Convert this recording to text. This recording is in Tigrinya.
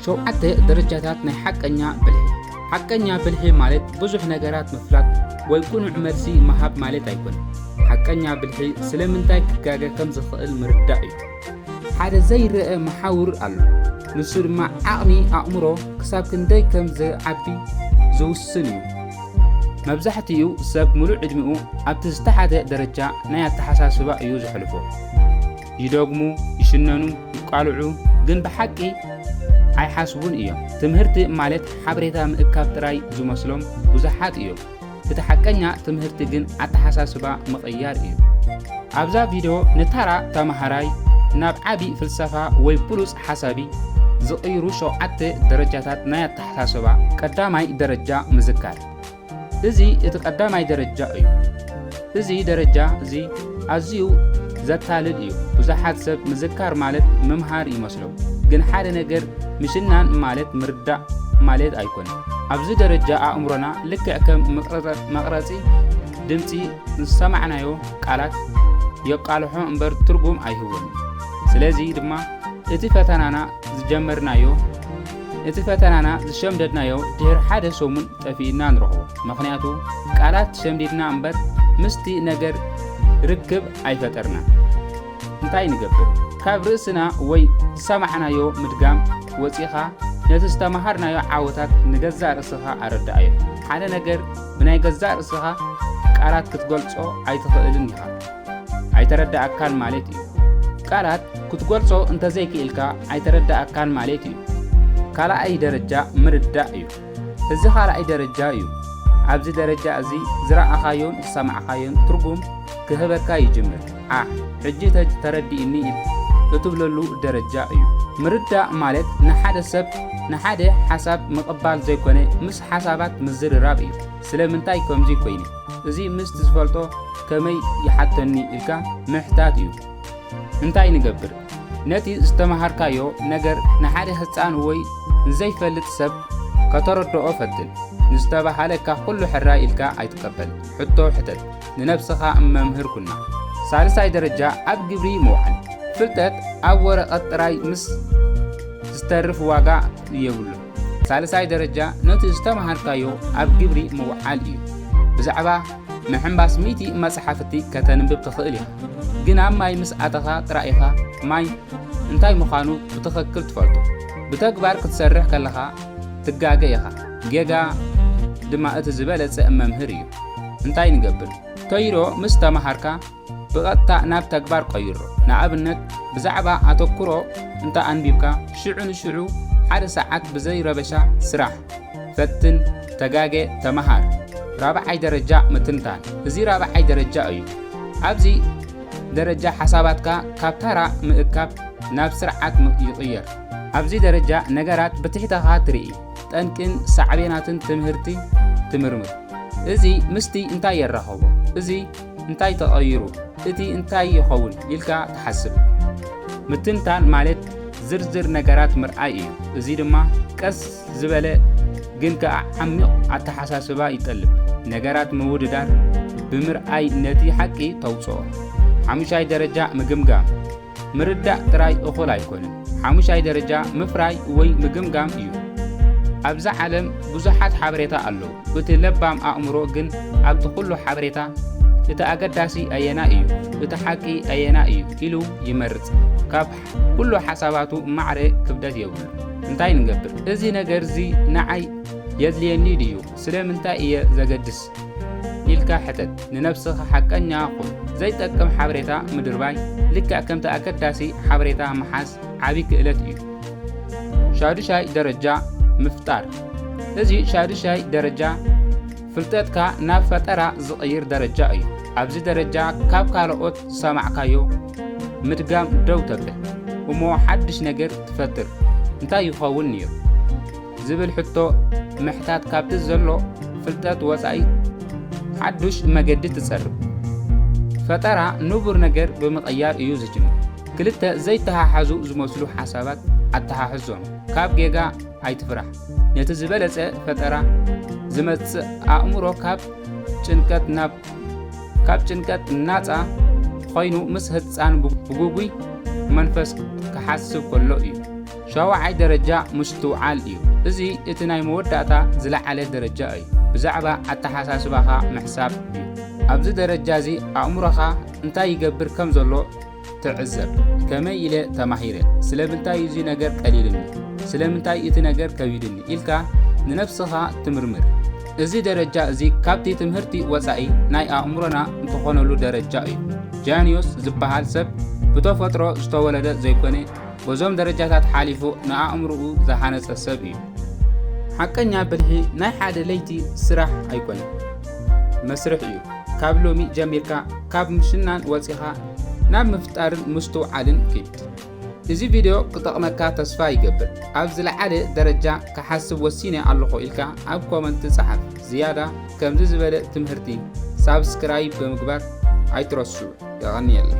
ሸውዓተ ደረጃታት ናይ ሓቀኛ ብልሒ ሓቀኛ ብልሒ ማለት ብዙሕ ነገራት ምፍላጥ ወይ ቁኑዕ መልሲ ምሃብ ማለት ኣይኮነን። ሓቀኛ ብልሒ ስለምንታይ ክጋገ ከም ዝኽእል ምርዳእ እዩ። ሓደ ዘይረአ መሓውር ኣሎ፣ ንሱ ድማ ዓቕሚ ኣእምሮ ክሳብ ክንደይ ከም ዝዓቢ ዝውስን እዩ። መብዛሕትኡ ሰብ ምሉእ ዕድሚኡ ኣብቲ ዝተሓተ ደረጃ ናይ ኣተሓሳስባ እዩ ዘሕልፎ። ይደግሙ፣ ይሽነኑ፣ ይቃልዑ ግን ብሓቂ ኣይሓስቡን እዮም። ትምህርቲ ማለት ሓበሬታ ምእካብ ጥራይ ዝመስሎም ብዙሓት እዮም። እቲ ሓቀኛ ትምህርቲ ግን ኣተሓሳስባ ምቕያር እዩ። ኣብዛ ቪድዮ ንታራ ተማሃራይ ናብ ዓቢ ፍልሰፋ ወይ ብሉጽ ሓሳቢ ዝቕይሩ ሸውዓተ ደረጃታት ናይ ኣተሓሳስባ ቀዳማይ ደረጃ ምዝካር እዚ እቲ ቀዳማይ ደረጃ እዩ። እዚ ደረጃ እዚ ኣዝዩ ዘታልል እዩ። ብዙሓት ሰብ ምዝካር ማለት ምምሃር ይመስሎም፣ ግን ሓደ ነገር ምሽናን ማለት ምርዳእ ማለት ኣይኮነን። ኣብዚ ደረጃ ኣእምሮና ልክዕ ከም መቕረጺ ድምጺ ንዝሰማዕናዮ ቃላት የቃልሖ እምበር ትርጉም ኣይህቦን። ስለዚ ድማ እቲ ፈተናና ዝጀመርናዮ እቲ ፈተናና ዝሸምደድናዮ ድሕሪ ሓደ ሰሙን ጠፊእና ንረኽቦ መኽንያቱ ቃላት ሸምዲድና እምበር ምስቲ ነገር ርክብ ኣይፈጠርናን እንታይ ንገብር ካብ ርእስና ወይ ዝሰማዕናዮ ምድጋም ወጺኻ ነቲ ዝተማሃርናዮ ዓወታት ንገዛእ ርእስኻ ኣረዳኣዮ ሓደ ነገር ብናይ ገዛእ ርእስኻ ቃላት ክትገልጾ ኣይትኽእልን ኢኻ ኣይተረዳኣካን ማለት እዩ ቃላት ክትገልጾ እንተዘይክኢልካ ኣይተረዳኣካን ማለት እዩ ካልኣይ ደረጃ ምርዳእ እዩ እዚ ኻልኣይ ደረጃ እዩ። ኣብዚ ደረጃ እዚ ዝረኣኻዮን ዝሰማዕኻዮን ትርጉም ክህበካ ይጅምር። ዓሕ ሕጂ ተረዲኡኒ እትብለሉ ደረጃ እዩ። ምርዳእ ማለት ንሓደ ሰብ ንሓደ ሓሳብ ምቕባል ዘይኮነ ምስ ሓሳባት ምዝርራብ እዩ። ስለምንታይ ከምዚ ኮይነ እዚ ምስቲ ዝፈልጦ ከመይ ይሓተኒ ኢልካ ምሕታት እዩ። እንታይ ንገብር? ነቲ ዝተመሃርካዮ ነገር ንሓደ ህፃን ወይ ንዘይፈልጥ ሰብ ከተረድኦ ፈትን። ንዝተባሃለካ ኩሉ ሕራይ ኢልካ ኣይትቀበል። ሕቶ ሕተት። ንነብስኻ መምህር ኩና። ሳልሳይ ደረጃ ኣብ ግብሪ ምውዓል። ፍልጠት ኣብ ወረቐት ጥራይ ምስ ዝተርፍ ዋጋ የብሉን። ሳልሳይ ደረጃ ነቲ ዝተምሃርካዮ ኣብ ግብሪ ምውዓል እዩ። ብዛዕባ ምሕንባስ ሚእቲ መጽሓፍቲ ከተንብብ ትኽእል ኢኻ፣ ግን ኣብ ማይ ምስ ኣተኻ ጥራይ ኢኻ ማይ እንታይ ምዃኑ ብትኽክል ትፈልጦ። ብተግባር ክትሰርሕ ከለኻ ትጋገ ኢኻ፣ ጌጋ ድማ እቲ ዝበለጸ መምህር እዩ። እንታይ ንገብር? ተይሮ ምስ ተምሃርካ ብቐጥታ ናብ ተግባር ቀይሮ። ንኣብነት፣ ብዛዕባ ኣተኩሮ እንተ ኣንቢብካ፣ ሽዑ ንሽዑ ሓደ ሰዓት ብዘይ ረበሻ ስራሕ። ፈትን፣ ተጋገ፣ ተመሃር። ራብዓይ ደረጃ ምትንታን። እዚ ራብዓይ ደረጃ እዩ። ኣብዚ ደረጃ ሓሳባትካ ካብ ታራ ምእካብ ናብ ስርዓት ይቕየር። ኣብዚ ደረጃ ነገራት ብትሕተኻ ትርኢ፣ ጠንቅን ሳዕቤናትን ትምህርቲ ትምርምር። እዚ ምስቲ እንታይ የራኸቦ? እዚ እንታይ ተቐይሩ? እቲ እንታይ ይኸውን ኢልካ ትሓስብ? ምትንታን ማለት ዝርዝር ነገራት ምርኣይ እዩ፣ እዚ ድማ ቀስ ዝበለ ግን ከኣ ዓሚቕ ኣተሓሳስባ ይጠልብ። ነገራት ምውድዳር ብምርኣይ ነቲ ሓቂ ተውጽኦ። ሓሙሻይ ደረጃ ምግምጋም፣ ምርዳእ ጥራይ እኹል ኣይኮነን፣ ሓሙሻይ ደረጃ ምፍራይ ወይ ምግምጋም እዩ። ኣብዛ ዓለም ብዙሓት ሓበሬታ ኣለዉ፣ እቲ ለባም ኣእምሮ ግን ኣብቲ ኩሉ ሓበሬታ እቲ ኣገዳሲ ኣየናይ እዩ፣ እቲ ሓቂ ኣየናይ እዩ ኢሉ ይመርጽ። ካብ ኩሉ ሓሳባቱ ማዕረ ክብደት የብሉን። እንታይ ንገብር? እዚ ነገርዚ ንዓይ የድልየኒ ድዩ? ስለምንታይ እየ ዘገድስ ኢልካ ሕተት። ንነብስኻ ሓቀኛ ኩን። ዘይጠቅም ሓበሬታ ምድርባይ ልክዕ ከምቲ ኣገዳሲ ሓበሬታ ምሓዝ ዓቢ ክእለት እዩ። ሻዱሻይ ደረጃ ምፍጣር እዚ ሻዱሻይ ደረጃ ፍልጠትካ ናብ ፈጠራ ዝቕይር ደረጃ እዩ። ኣብዚ ደረጃ ካብ ካልኦት ዝሰማዕካዮ ምድጋም ደው ተብል እሞ ሓድሽ ነገር ትፈጥር። እንታይ ይኸውን እዩ? ዝብል ሕቶ ምሕታት ካብቲ ዘሎ ፍልጠት ወጻኢ ሓዱሽ መገዲ ትጸርብ። ፈጠራ ንቡር ነገር ብምቕያር እዩ ዝጅምር። ክልተ ዘይተሓሓዙ ዝመስሉ ሓሳባት ኣተሓሕዞም። ካብ ጌጋ ኣይትፍራሕ። ነቲ ዝበለጸ ፈጠራ ዝመጽእ ኣእምሮ ካብ ጭንቀት ናብ ካብ ጭንቀት ናጻ ኮይኑ ምስ ህፃን ብጉጉይ መንፈስ ክሓስብ ከሎ እዩ። ሻውዓይ ደረጃ ምስትውዓል እዩ። እዚ እቲ ናይ መወዳእታ ዝለዓለ ደረጃ እዩ። ብዛዕባ ኣተሓሳስባኻ ምሕሳብ እዩ። ኣብዚ ደረጃ እዚ ኣእምሮኻ እንታይ ይገብር ከም ዘሎ ትዕዘብ። ከመይ ኢለ ተማሂረ? ስለምንታይ እዚ ነገር ቀሊልኒ? ስለምንታይ እቲ ነገር ከቢድኒ? ኢልካ ንነብስኻ ትምርምር። እዚ ደረጃ እዚ ካብቲ ትምህርቲ ወጻኢ ናይ ኣእምሮና እንተኾነሉ ደረጃ እዩ። ጃንዮስ ዝበሃል ሰብ ብተፈጥሮ ዝተወለደ ዘይኮነ በዞም ደረጃታት ሓሊፉ ንኣእምሮኡ ዝሃነጸ ሰብ እዩ። ሓቀኛ ብልሒ ናይ ሓደ ለይቲ ስራሕ ኣይኮነን፣ መስርሕ እዩ። ካብ ሎሚ ጀሚርካ ካብ ምሽናን ወጺኻ ናብ ምፍጣርን ምስትውዓልን ኪድ። እዚ ቪድዮ ክጠቕመካ ተስፋ ይገብር። ኣብ ዝለዓለ ደረጃ ክሓስብ ወሲነ ኣለኹ ኢልካ ኣብ ኮመንት ጸሓፍ። ዝያዳ ከምዚ ዝበለ ትምህርቲ ሳብስክራይብ ብምግባር ኣይትረስዑ። የቐንየለይ።